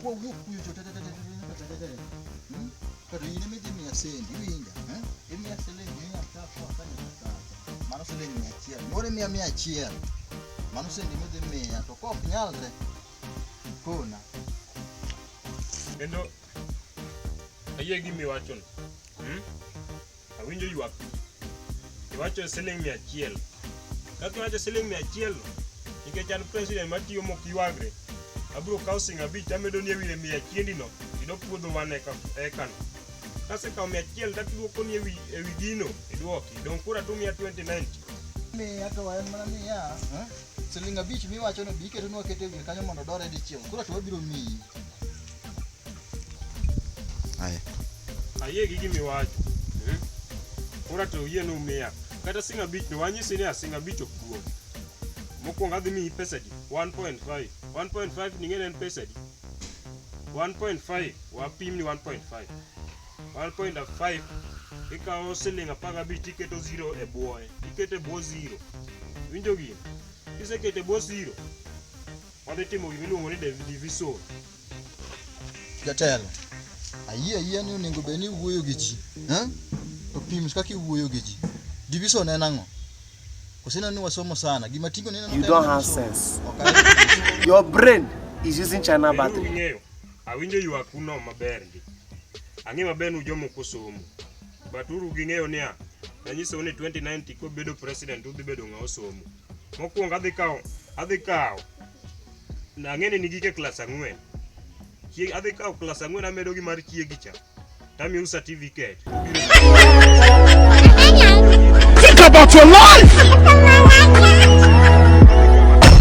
Kuwawuok kuyo to kata in ema idhi miya sendi iwinja eh? imiya siling mia tatu akanyaka sasa mano siling mia achiel moro imiya mia achiel mano sendi midhi miya to kok nyalre kona kendo ayie gimiwachono hmm? Awinjo ywak. Iwacho siling mia achiel. Kaka iwacho siling mia achiel, nikech an president matiyo mok ywagre, abiro kawo siling abich tamedoni e wiye mia achiendino kendo puodho wan eka ekano. Kasekawo mia achiel taduokoni ewi ewi gino iduoki. Dong' koro atumia 2090. miya to en mana niya siling abich miwachono bi iketonwa kete wiye kanyo mondo odore dichiel koro to wabiro miyi Haya. Ayie gi gimi wacho. Hmm? Ora to yie no miya. Kata singa bich no wanyisi ni asinga bich ok duong. Mokwongo adhi miyi pesa di 1.5. 1.5 ni ng'en en pesa di. 1.5 wapim ni 1.5. 1.5 ikawo siling apar gabich tiketo zero e bwoye. Iketo e bwo zero. Winjo gini? Kiseketo e bwo zero, wadhi timo gima iluongo ni division. Jatelo, ayie ayie ni onego bed ni iwuoyo gi ji. Eh? To pim kaka iwuoyo gi ji. Division en ang'o? Usineno ni wasomo sana. Gima tingo neno You don't have sense. Okay. Your brain is using China battery. Ng'eyo. Awinjo yu akuno maber ndi. Ang'e maber nu jomo kusomo. Baturu gi ng'eyo niya. Nanyiso ni 2090 ko bedo president udhi bedo ng'a osomo. Mokwongo adhi kawo adhi kawo ang'eni ni gike klas ang'wen chieg adhi kawo klas ang'wen amedo gi mar chiegi cha tamiu certificate Think about your life!